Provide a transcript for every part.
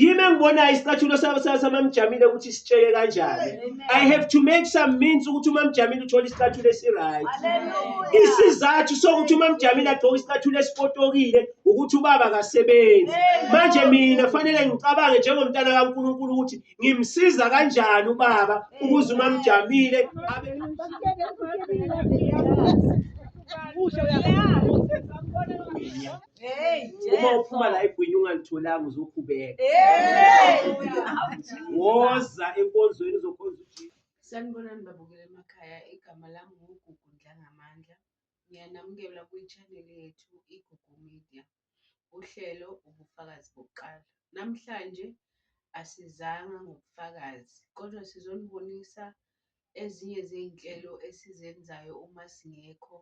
yimi engibonayo isicathulo samamjamile ukuthi sitsheke kanjani i have to make some means ukuthi umamjamile uthole isicathulo esiright isizathu sokuthi umamjamile agqoke isicathulo esipotokile ukuthi ubaba kasebenzi manje mina fanele ngicabange njengomntana kankulunkulu ukuthi ngimsiza kanjani ubaba ukuze umamjamile abe Yeah. uma uphuma la egwini ungalitholanga uzokhubeka woza enkonzweni uzokhonza uJesu sanibonani babukela emakhaya igama lami ngugugu ndlangamandla ngiyanamukela kwi-channel yethu igugu media uhlelo ubufakazi bokuqala namhlanje asizanga ngobufakazi kodwa sizonibonisa ezinye zey'nhlelo esizenzayo uma singekho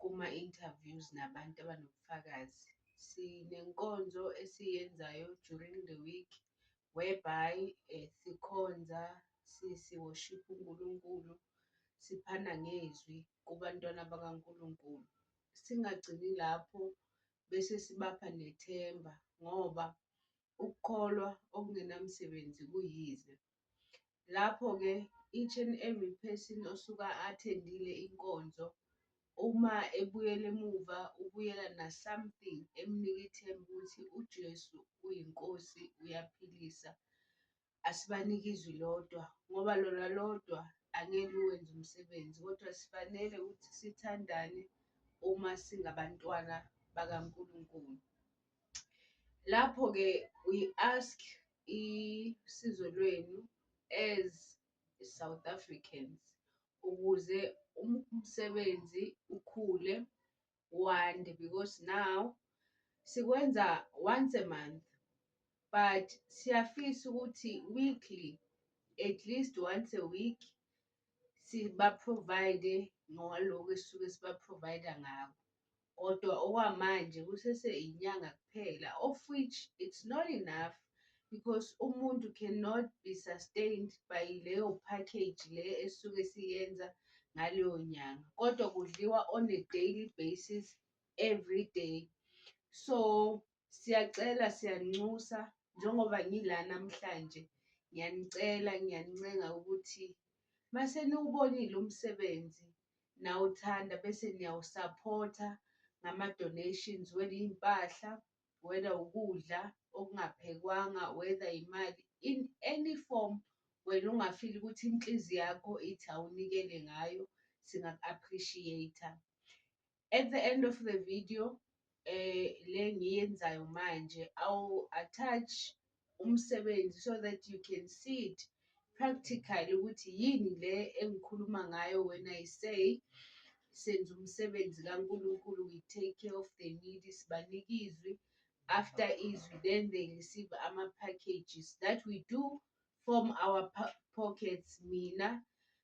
kuma-interviews nabantu abanobufakazi. Sinenkonzo esiyenzayo during the week whereby eh, sikhonza si- siworship uNkulunkulu siphana ngezwi kubantwana bakaNkulunkulu. Singagcini lapho bese sibapha nethemba ngoba ukukholwa okungenamsebenzi kuyize. Lapho-ke each and every person osuka athendile inkonzo uma ebuyela emuva ubuyela na-something emnika ithemba ukuthi uJesu uyiNkosi uyaphilisa. Asibanike izwi lodwa ngoba lona lodwa angeke uwenze umsebenzi kodwa sifanele ukuthi sithandane uma singabantwana bakaNkulunkulu. Lapho-ke we ask isizo lwenu as South Africans ukuze umsebenzi ukhule wande because now sikwenza once a month but siyafisa ukuthi weekly at least once a week siba-provide ngaloku esisuke siba-provide ngako. kodwa okwamanje kusese inyanga kuphela of which it's not enough because umuntu cannot be sustained by leyo package le esuke siyenza ngaleyo nyanga kodwa kudliwa on a daily basis every day so Siyacela siyanxusa njengoba ngila namhlanje ngiyanicela ngiyanincenga ukuthi mase niwubonile umsebenzi nawuthanda bese niyawusaphotha ngama-donations whether iy'mpahla, whether ukudla okungaphekwanga, whether imali in any form wena ungafili ukuthi inhliziyo yakho ithi awunikele ngayo singaku-appreciate-a. At the end of the video eh le ngiyenzayo manje awu attach umsebenzi so that you can see it practically ukuthi yini le engikhuluma ngayo when I say senza umsebenzi kaNkulunkulu we take care of the needy sibanike izwi after izwi then they receive ama packages that we do from our pockets mina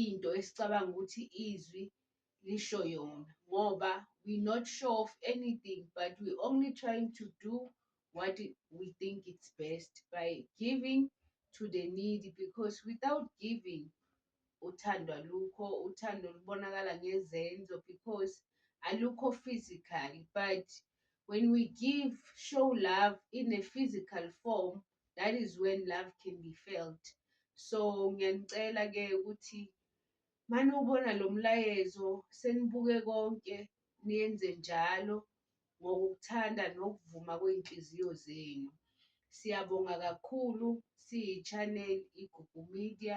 into esicabanga ukuthi izwi lisho yona ngoba we not sure of anything but we only trying to do what we think it's best by giving to the needy because without giving uthando alukho uthando lubonakala ngezenzo because alukho physical but when we give show love in a physical form that is when love can be felt so ngiyanicela ke ukuthi mani ubona lo mlayezo senibuke konke niyenze njalo ngokuthanda nokuvuma kwey'nhliziyo zenu siyabonga kakhulu siyi-channel igugu media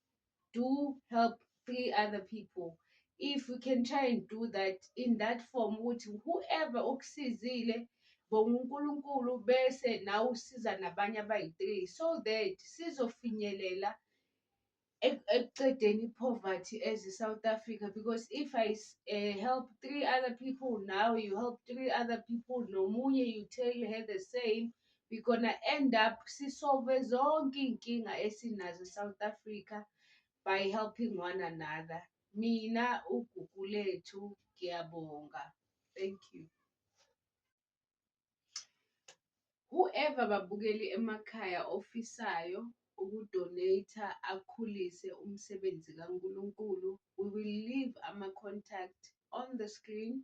do help three other people if we can try and do that in that form ukuthi whoever okusizile bonga uNkulunkulu bese nawe usiza nabanye abayi-three so that sizofinyelela ekuqedeni i-poverty as i-South Africa because if I uh, help three other people now you help three other people nomunye you tell her the same we gonna end up sisolve zonke iy'nkinga esinazo e-South Africa by helping one another. Mina uGugu lethu ngiyabonga. Thank you. Whoever babukeli emakhaya ofisayo ukudonate akhulise umsebenzi kaNkulunkulu we will leave ama-contact on the screen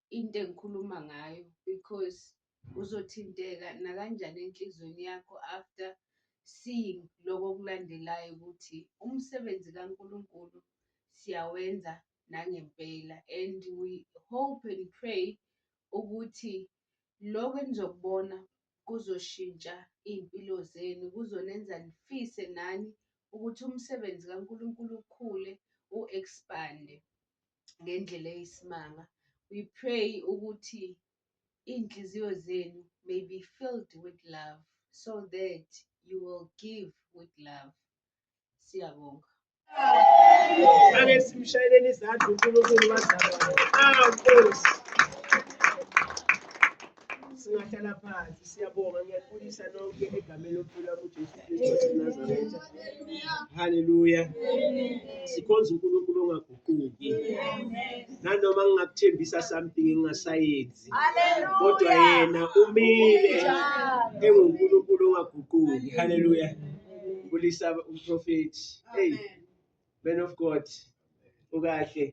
into engikhuluma ngayo because uzothinteka nakanjani enhlizweni yakho after seeing lokho okulandelayo ukuthi umsebenzi kaNkulunkulu siyawenza nangempela and we hope and pray ukuthi lokho enizokubona kuzoshintsha iy'mpilo zenu kuzonenza nifise nani ukuthi umsebenzi kaNkulunkulu ukhule u-expande. ngendlela eyisimanga we pray ukuthi iy'nhliziyo zenu may be filled with love so that you will give with love siyabonga ake simshayeleni izandla unkulunkulu wazalwayo ah nkosi singahlala phansi siyabonga ngiyakubulisa nonke egameni lokuphila kujesu kristu wasenazaretha halleluya sikhonza unkulunkulu ongaguquki nanoma ngingakuthembisa something engingasayenzi kodwa yena umile engunkulunkulu ongaguquki halleluya ngibulisa umprofethi hey man of god ukahle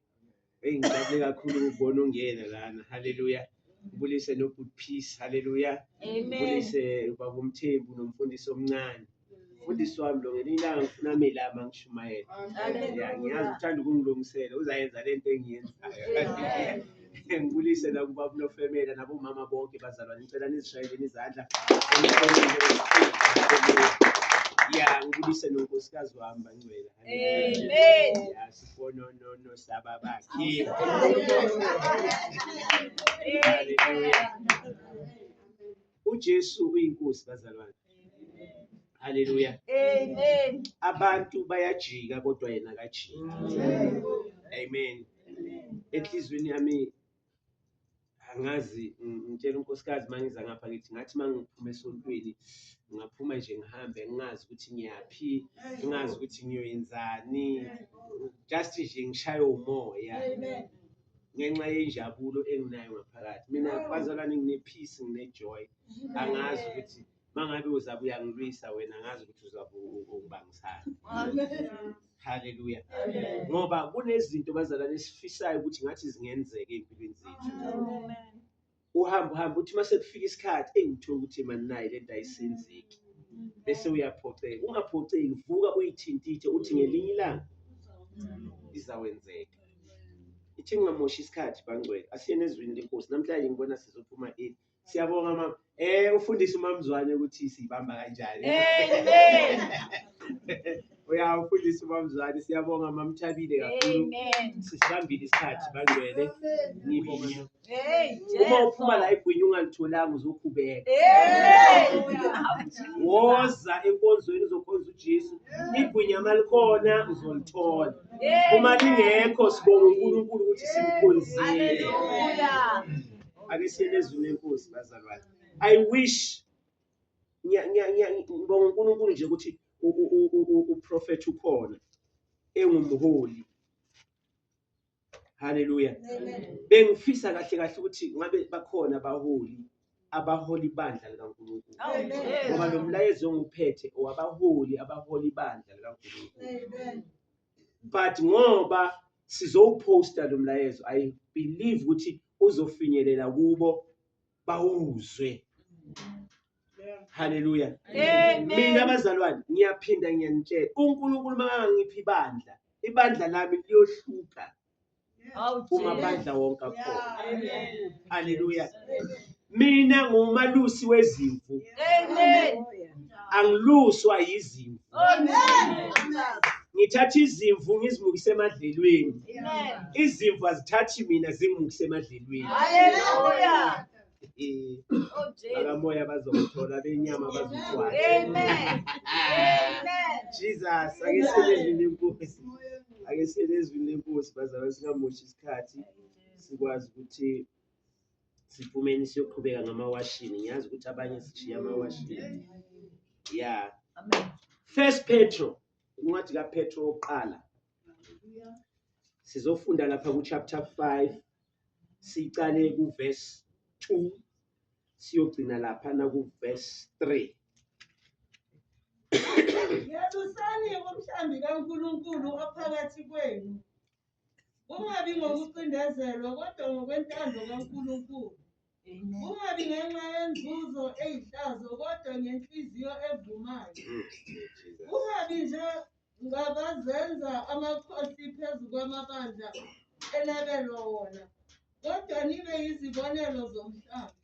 Hey ngijabule kakhulu ukubona ungena lana. Hallelujah. Ubulise no good peace. Hallelujah. Amen. Ubulise ubaba umthembu nomfundisi omncane. Mfundisi wami lo ngelinye ilanga ngifuna amelama ngishumayela. Amen. Ya ngiyazi uthanda ukungilungisela uzayenza lento engiyenzayo. Amen. Ngibulise la kubaba nofemela nabomama bonke bazalwane ngicela nizishayeleni izandla. Ya ngibulise nonkosikazi wami bangcwela. Amen. Yasibononono sababakhe. Hallelujah. UJesu uyinkosi bazalwane. Hallelujah. Amen. Abantu bayajika kodwa yena akajiki. Amen. Enhlizweni yami angazi ngitshela unkosikazi uma ngiza ngapha ngithi ngathi uma ngiphuma esontweni ngingaphuma nje ngihambe ngingazi ukuthi ngiyaphi ngingazi ukuthi ngiyoyenzani just nje ngishaye umoya ngenxa yenjabulo enginayo ngaphakathi mina bazalwane ngine-peace ngine-joy angazi ukuthi mangabe uzabe uyangilwisa wena ngazi ukuthi uzabe ungibangisana haleluya ngoba kunezinto bazalwane esifisayo ukuthi ngathi zingenzeka ey'mpilweni zethu uhamba uhamba uthi uma sekufika isikhathi engithola ukuthi mani nayi le nto ayisenzeki bese uyaphoxeka ungaphoxeki vuka uyithintithe uthi ngelinye ilanga izawenzeka ithi ngingamoshi isikhathi bangcwele asiyeni ezwini lenkosi namhlanje ngibona sizophuma eli Siyabonga mama. Eh ufundisa umamzwane ukuthi siyibamba kanjani. Amen. Uyawufundisa umamzwane. Siyabonga mamthabile kakhulu. Amen. Sisibambile isikhathi bangcwele. Ngibonga. Hey. Uma uphuma la igwinyi ungalitholanga uzokhubeka. Amen. Woza enkonzweni uzokhonza uJesu. Igwinya malikhona uzolithola. Uma lingekho sibonga uNkulunkulu ukuthi simkhonzile. Hallelujah. Ake siyele ezwini lenkosi bazalwane. I wish ngibonga uNkulunkulu nje ukuthi uprofethi ukhona engumholi. Haleluya. Bengifisa kahle kahle ukuthi ngabe bakhona abaholi abaholi bandla likaNkulunkulu. Ngoba lo mlayezo ongiphethe owabaholi abaholi bandla likaNkulunkulu. but ngoba sizowuposta lo mlayezo i believe ukuthi uzofinyelela kubo bawuzwe haleluya mina bazalwane ngiyaphinda ngiyanitshela unkulunkulu makangangiphi ibandla ibandla lami liyohluka ungamandla wonke akhona haleluya mina ngumalusi wezimvu angiluswa yizimvu ngithatha izimvu ngizimukise emadlelweni izimvu azithathi mina zimukise emadlelweni bakamoya oh, bazokuthola benyama bazokwazi jesus ake selezwini lenkosi ake selezwini lenkosi bazalwa singamoshi isikhathi sikwazi ukuthi siphumeni siyoqhubeka ngamawashini ngiyazi ukuthi abanye sishiya amawashini ya first petro incwadi kapetro wokuqala sizofunda lapha kuchapter 5 sicale kuverse 2 siyogcina lapha na kuverse 3 Yebusani umhlambi kaNkulunkulu ophakathi kwenu. Kungabi ngokucindezelwa kodwa ngokwentando kaNkulunkulu. Kungabi ngenxa yenzuzo eyihlazo kodwa ngenhliziyo evumayo. Kungabi nje ngabazenza amakhosi phezu kwamabandla enabelwa wona kodwa nibe yizibonelo zomhlaba.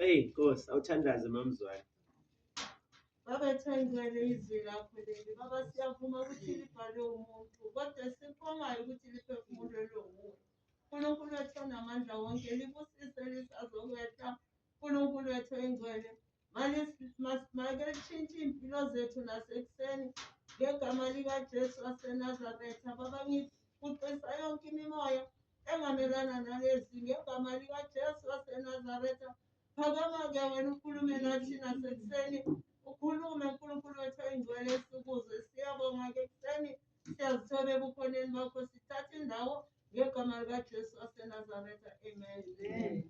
Eyi Nkosi, awuthandaze mamzwane. Baba thangele izwi lakho leli. Baba siyavuma ukuthi libhalwe umuntu kodwa sikhongayo ukuthi liphefumulelwe wuwe. uNkulunkulu wethu onamandla wonke libusise lisazokwetha uNkulunkulu wethu oyingcwele make lishintshe iy'mpilo zethu nasekuseni ngegama likajesu wasenazaretha baba ngikuqisa yonke imimoya engamelana nalezi ngegama likajesu wasenazaretha phakama-ke wena ukhulume nathi nasekuseni ukhulume nkulunkulu wethu oyingcwele sikuzwe siyabonga-ke ekuseni Siyazithoba ebukhoneni bakho sithatha indawo ngegama likaJesu waseNazaretha. Amen. Amen.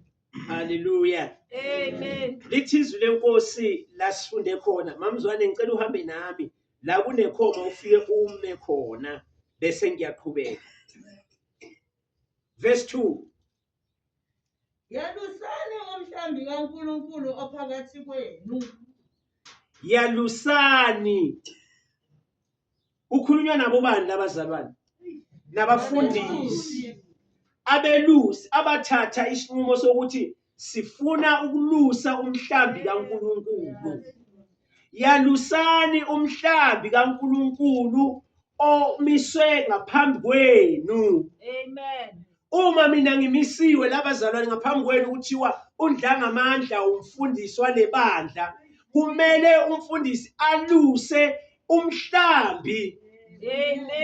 Haleluya. Amen. Lithi izwi lenkosi lasifunde khona. Mamzwane ngicela uhambe nami la kunekhoma ufike ume khona bese ngiyaqhubeka. Verse 2. Yalusani umhlambi kaNkulunkulu ophakathi kwenu. Yalusani. Ukhulunywa nabo bani labazalwane? Nabafundisi. Abelusi abathatha isinqumo sokuthi sifuna ukulusa umhlambi kaNkulunkulu. Yalusani umhlambi kaNkulunkulu omiswe ngaphambi kwenu. Amen. uma mina ngimisiwe labazalwane ngaphambi kwenu kuthiwa undlangamandla umfundisi walebandla kumele umfundisi aluse umhlambi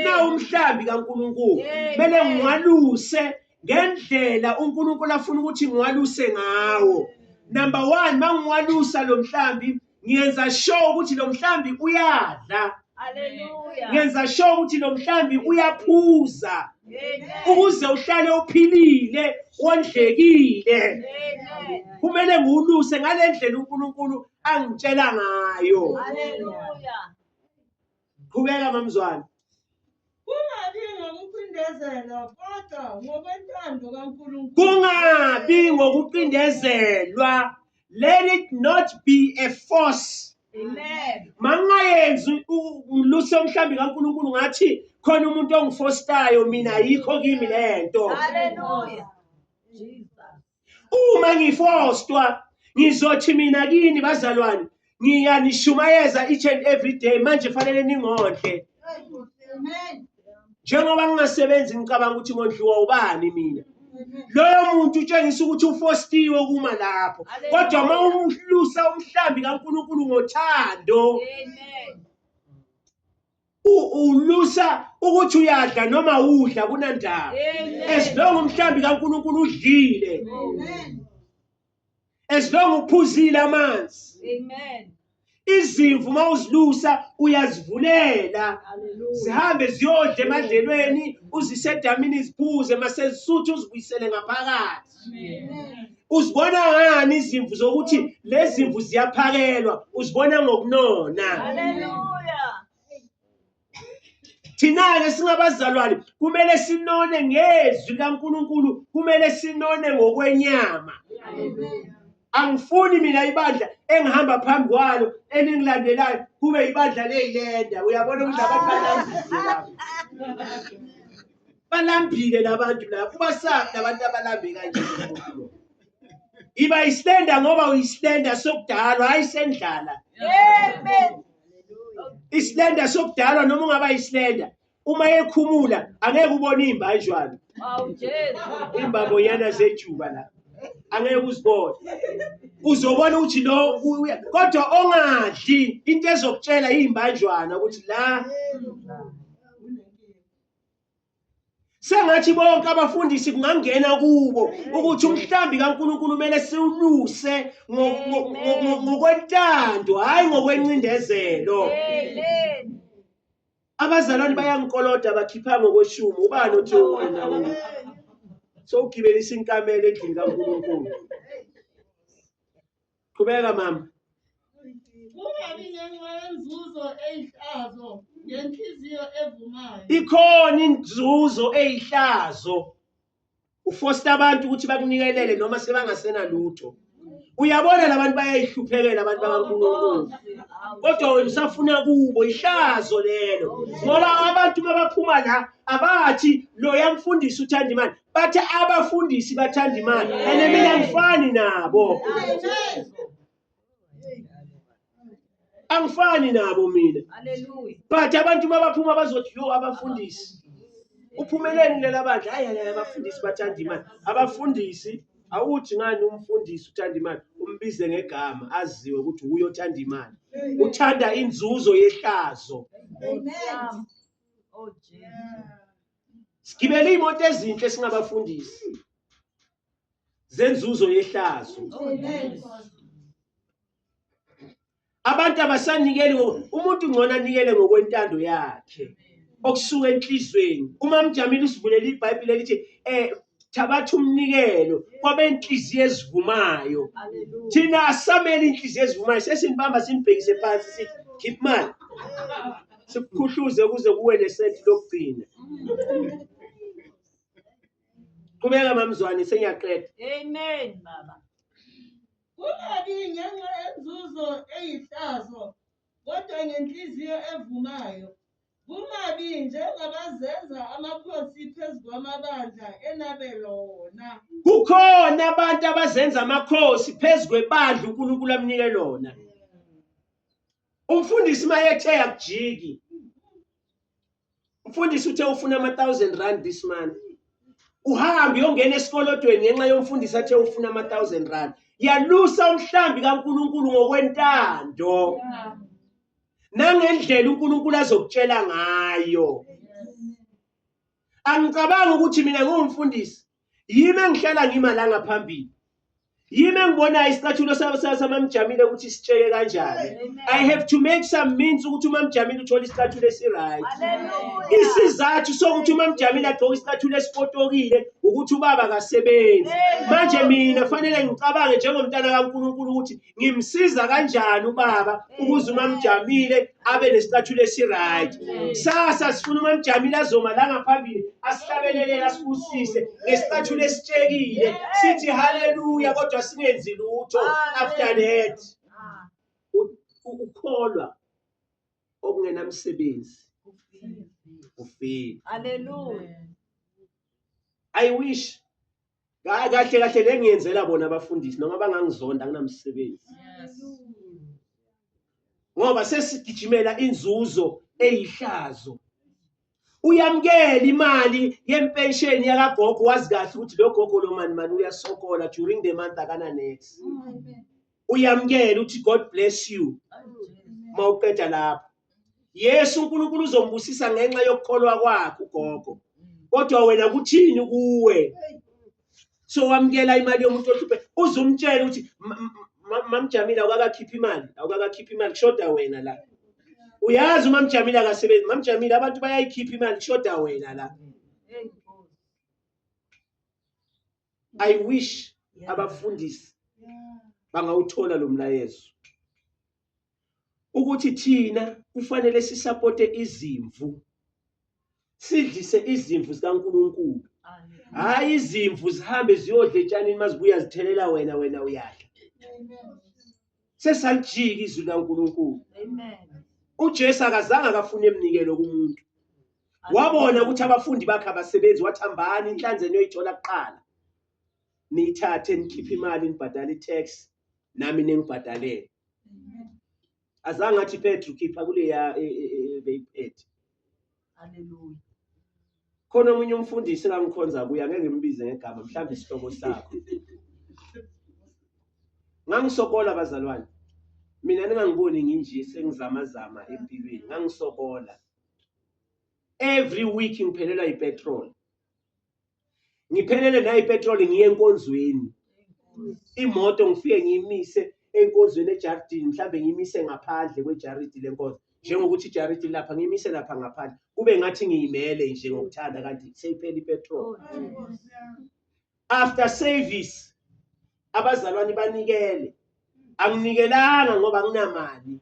na umhlambi kaNkuluNkulu kumele ngiwaluse ngendlela uNkuluNkulu afuna ukuthi ngiwaluse ngawo number 1 mangiwalusa lo mhlambi ngiyenza sure ukuthi lo mhlambi uyadla Hallelujah. ngenza sure ukuthi lo mhlambi uyaphuza Amen. ukuze uhlale uphilile wondlekile Amen. kumele ngiwuluse ngale ndlela unkulunkulu angitshela ngayo Hallelujah. Qhubeka mamzwana. Kungabi ngokucindezela kodwa ngokwentando kaNkulunkulu. Kungabi ngokucindezelwa. Let it not be a force. Amen. Mangayenzi umluse omhlambi kaNkulunkulu ngathi khona umuntu ongifostayo mina ayikho kimi lento. Hallelujah. uma ngifostwa ngizothi mina kini bazalwane ngiyanishumayeza each and every day manje fanele ningondle njengoba ngingasebenzi ngicabanga ukuthi ngondliwa ubani mina loyo muntu utshengisa ukuthi ufostiwe kuma lapho kodwa uma umhlusa umhlambi kankulunkulu ngothando ulusa ukuthi uyadla noma udla kunandaba as long umhlambi kaNkuluNkulu udlile as long uphuzile amanzi amen izimvu uma uzilusa uyazivulela zihambe ziyodla emadlelweni uzise edamini ziphuze masezisutha uzibuyisele ngaphakathi uzibona ngani izimvu zokuthi lezi zimvu ziyaphakelwa uzibona ngokunona thina-ke singabazalwane kumele sinone ngezwi likankulunkulu kumele sinone ngokwenyama angifuni mina ibandla engihamba phambi kwalo eningilandelayo kube ibandla leyilenda uyabona ukuthi abantu bananzizilayo balambile labantu labo ubasaphi labantu abalambe kanje umuntu lo iba islenda ngoba uyislenda sokudalwa hayi sendlala amen islenda sokudalwa noma ungaba islenda uma ekhumula angeke ubone imbanjwana imbabo yana zejuba la angeke uzibone uzobona ukuthi lo kodwa ongadli into ezokutshela iyimbanjwana ukuthi la sengathi bonke abafundisi kungangena kubo ukuthi umhlambi kaNkuluNkulu kumele siwuluse ngokwentando hayi ngokwencindezelo abazalwane bayangikoloda bakhipha ngokweshumi ubani othi wena sowugibelisa inkamela endlini kaNkuluNkulu Qhubeka mama. Kungabi ngenxa yenzuzo eyihlazo ngenhliziyo evumayo. Ikhona inzuzo eyihlazo. Ufosta abantu ukuthi bakunikelele noma sebangasena lutho. Uyabona labantu bayayihluphekela abantu bakaNkulunkulu. Kodwa wena usafuna kubo ihlazo lelo. Ngoba abantu mabaphuma la abathi loya mfundisi uthanda imali. Bathi abafundisi bathanda imali and mina ngifani nabo. Angifani nabo mina. Hallelujah. But abantu mabaphuma bazothi yo abafundisi. Uphumeleni lela bandla hayi hayi abafundisi bathanda imali. Abafundisi awuthi ngani umfundisi uthanda imali umbize ngegama aziwe ukuthi uye othanda imali. Uthanda inzuzo yehlazo. Amen. Oh Jesus. sigibele imoto ezinhle singabafundisi zenzuzo yehlazo abantu abasanikeli umuntu ngcono anikele ngokwentando yakhe okusuka enhlizweni uma mjamile usivulela ibhayibhile elithi eh thabatha umnikelo kwabenhliziyo ezivumayo thina asamele inhliziyo ezivumayo sesinibamba simbhekise phansi sithi khipha imali sikukhuhluze kuze kuwe nesenti lokugcina qhubeka mamzwane sengiyaqeda amen baba kungabi ngenxa yenzuzo eyihlazo kodwa ngenhliziyo evumayo Kumabi njengabazenza amakhosi phezu kwamabandla enabelwa wona. Kukhona abantu abazenza amakhosi phezu kwebandla uNkulunkulu amnike lona. Umfundisi mayethe akujiki. Umfundisi uthe ufuna ama 1000 rand this month. Uhambe uyongena esikolodweni ngenxa yomfundisi athe ufuna ama 1000 rand. Yalusa umhlambi kaNkulunkulu ngokwentando. Yeah. nangendlela uNkulunkulu azokutshela ngayo angicabangi ukuthi mina ngiwumfundisi yimi engihlala ngima la ngaphambili yimi engibonayo isicathulo samamjamile ukuthi sitsheke kanjani i have to make some means ukuthi umamjamile uthole isicathulo esiright isizathu sokuthi umamjamile agqoke isicathulo esipotokile ukuthi ubaba kasebenzi manje mina fanele ngicabange njengomntana kankulunkulu ukuthi ngimsiza kanjani ubaba ukuze umamjamile abe nesicathulo esiright sasa sifuna umamjamile azoma la ngaphambili asihlabelelele asibusise ngesicathulo esitshekile sithi haleluya kodwa singenzi lutho after that ukukholwa okungenamsebenzi ufile haleluya i wish Ka- kahle kahle le ngiyenzela bona abafundisi noma bangangizonda anginamsebenzi ngoba sesigijimela inzuzo eyihlazo uyamukela imali yempensheni yakagogo wazi kahle ukuthi lo gogo lo mani mani uyasokola during the month akana next uyamkela uthi god bless you uma uqeda lapho yesu unkulunkulu uzombusisa ngenxa yokukholwa kwakho ugogo kodwa wena kuthini kuwe so wamkela imali yomuntu ohluphe uzumtshela ukuthi mamjamile awukakakhiphi imali awukakakhiphi imali kushoda wena la uyazi umamjamile akasebenzi mamjamile abantu bayayikhipha imali kushoda wena la i wish abafundisi bangawuthola lo mlayezo ukuthi thina kufanele sisapote izimvu sidlise izimvu zikaNkulunkulu hayi izimvu zihambe ziyodla etshanini mazibuya zithelela wena wena uyadla sesalijika izwi likaNkulunkulu amen uJesu akazange akafuna emnikelo kumuntu wabona ukuthi abafundi bakhe abasebenzi wathi hambani inhlanzi eniyoyithola kuqala niyithathe nikhiphe imali nibhadale i-tax nami ningibhadalele azange athi petru khipha kuleya e- e- e- beyiphethe Haleluya. Khona omunye umfundisi engangikhonza kuye angeke ngimbize ngegama mhlawumbe isihloko sakho. Ngangisokola bazalwane. Mina ningangiboni nginje sengizama zama empilweni. Ngangisokola. Every week ngiphelelwa ipetrol. ngiphelele nayi petrol ngiye enkonzweni imoto ngifike ngiyimise enkonzweni ejardini mhlawumbe ngiyimise ngaphandle kwejaridi lenkonzo njengokuthi ijaridi lapha ngiyimise lapha ngaphandle kube ngathi ngiyimele nje ngokuthanda kanti seyiphela ipetrol after service abazalwane banikele anginikelanga ngoba nginamali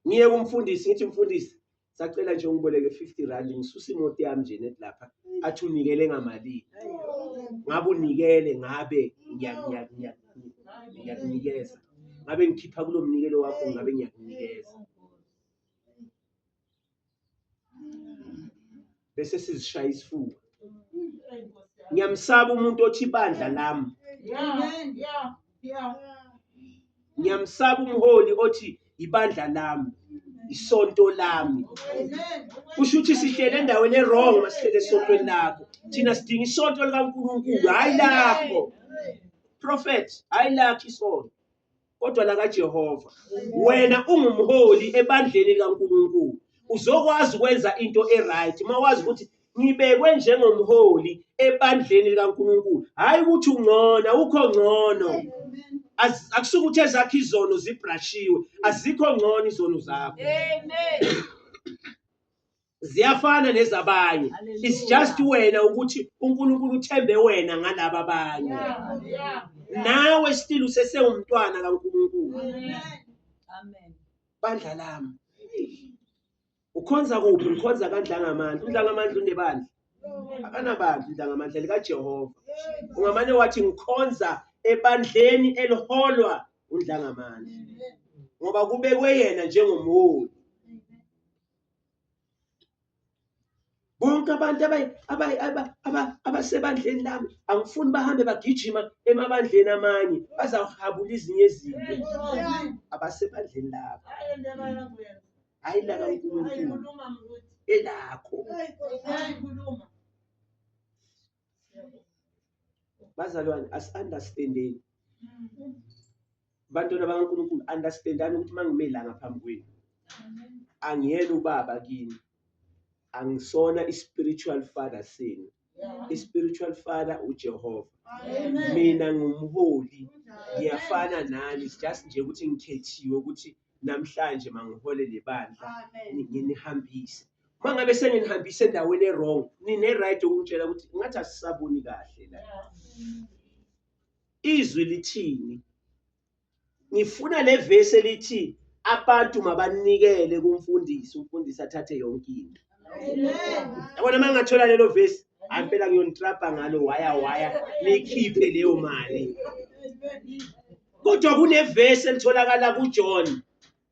ngiye kumfundisi ngithi mfundisi sacela nje ungiboleke 50 rand ngisuse imoto yami nje net lapha athi unikele ngamalini ngabe unikele ngabe ngiyakunikeza ngabe ngikhipha kulo mnikelo wakho ngabe ngiyakunikeza bese sizishaya isifuba ngiyamsaba umuntu othi ibandla lami ngiyamsaba umholi othi ibandla lami isonto lami kusho ukuthi sihlele endaweni erong masihlele esontweni lakho thina sidinga isonto likankulunkulu hhayi lakho prophet hhayi lakho isonto kodwa lakaJehova. Wena ungumholi ebandleni likaNkulunkulu. Uzokwazi ukwenza into e-right uma wazi ukuthi ngibekwe njengomholi ebandleni likaNkulunkulu. Hhayi ukuthi ungcono, awukho ngcono. Az- Akusuke ukuthi ezakho izono zibrashiwe, azikho ngcono izono zakho. Amen. ziyafana nezabanye it's just wena ukuthi uNkulunkulu uthembe wena ngalabo abanye nawe still usesewumntwana kaNkulunkulu amen bandla lami ukhonza kuphi ngikhonza kandlangamandla undlangamandla unebandla akanabandla undlangamandla likajehova ungamane wathi ngikhonza ebandleni eliholwa undlangamandla ngoba kubekwe yena njengomholi bonke abantu abasebandleni lami angifuni bahambe bagijima emabandleni amanye bazawuhabula izinye ezinto abasebandleni labo hhayi laka unkulunkulu elakho bazalwane asi-understandeni bantwana bakaNkulunkulu understandani ukuthi mangime la ngaphambi kwenu angiyena ubaba kini angisona i-spiritual father senu i-spiritual father uJehova mina ngumholi ngiyafana nani just nje ukuthi ngikhethiwe ukuthi namhlanje mangihole lebandla nginihambise uma ngabe senginihambise endaweni erong nine-right okungitshela ukuthi ngathi asisaboni kahle la izwi lithini ngifuna le vesi elithi abantu mabanikele kumfundisi umfundisi athathe yonke into yabona uma ngingathola lelo vesi hayi impela kuyonitrabha ngalo waya waya nikhiphe leyo mali kodwa kunevesi elitholakala kujohn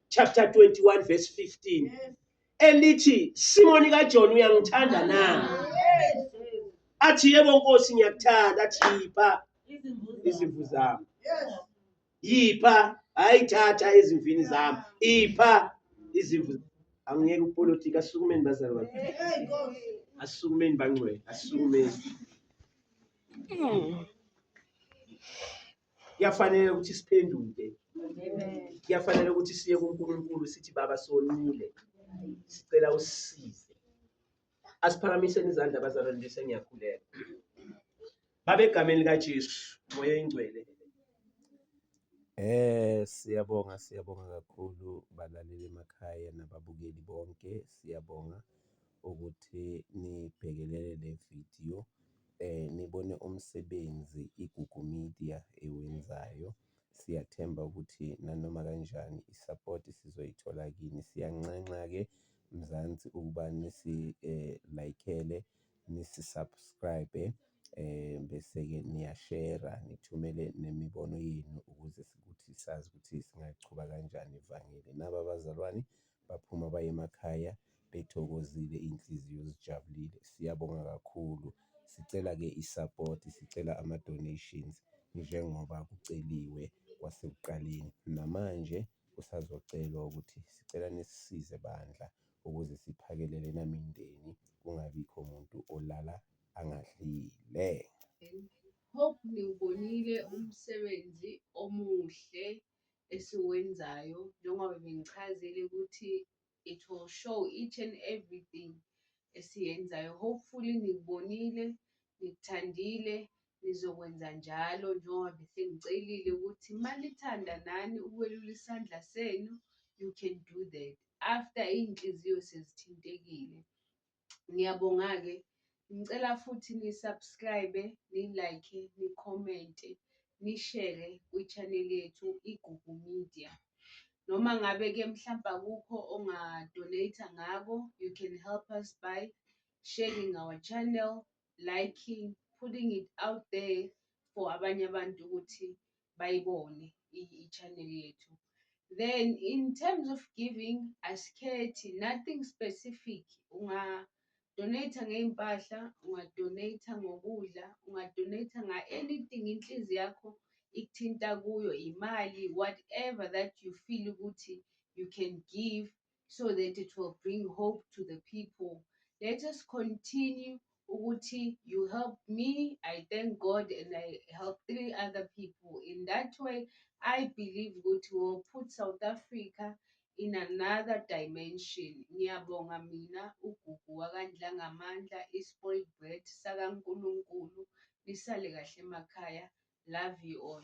chapter 21 verse 15 elithi simoni kajohn uyangithanda na athi yebo nkosi ngiyakuthanda athi yipha izimvu zami yipha hayi thatha izimvini zami ipha izimvu angiyeke upolitika asukumeni bazali bakhe asukumeni bangcwele asukumeni kuyafanele ukuthi siphenduke kuyafanele ukuthi siye kuNkulunkulu sithi baba sonile sicela usize Asiphakamiseni izandla abazalwane bese ngiyakhuleka. Babe egameni likaJesu, moya oyingcwele. Eh siyabonga siyabonga kakhulu balaleli emakhaya nababukeli bonke siyabonga ukuthi nibhekelele le video eh nibone umsebenzi iGugu Media ewenzayo. Siyathemba ukuthi nanoma kanjani isapoti sizoyithola kini. Siyanxenxa-ke Mzansi ukuba nisi-like-ele, nisi-subscribe-e bese-ke niyashera, nithumele nemibono yenu ukuze ukuthi sazi ukuthi singaliqhuba kanjani ivangeli. Naba abazalwane baphuma baye emakhaya bethokozile iy'nhliziyo zijabulile. Siyabonga kakhulu, sicela-ke i-support, sicela ama-donations njengoba kuceliwe kwasekuqaleni, namanje kusazocelwa ukuthi sicela nisisize bandla ukuze siphakelele namindeni kungabikho muntu olala angadlile. Hope niwubonile umsebenzi omuhle esiwenzayo njengoba bengichazile ukuthi it will show each and everything esiyenzayo hopefully nikubonile nikuthandile nizokwenza njalo njengoba besengicelile ukuthi manithanda nani ukwelula isandla senu you can do that after iy'nhliziyo sezithintekile Ngiyabonga-ke, ngicela futhi ni-subscribe, ni-like, ni-comment-e, nishere kwi-channel yethu Igugu Media. Noma ngabe-ke mhlawumbe akukho onga-donate ngako, you can help us by sharing our channel, liking, putting it out there for abanye abantu ukuthi bayibone i-channel yethu then in terms of giving asikhethi nothing specific ungadonate ngey'mpahla ungadonate ngokudla ungadonate nga-anything inhlizi yakho ikuthinta kuyo imali whatever that you feel ukuthi you can give so that it will bring hope to the people let us continue ukuthi you help me i thank god and i help three other people in that way i believe ukuthi will put south africa in another dimension ngiyabonga mina ugugu wakandlangamandla i-spoiled bread sakankulunkulu nisale kahle emakhaya love you all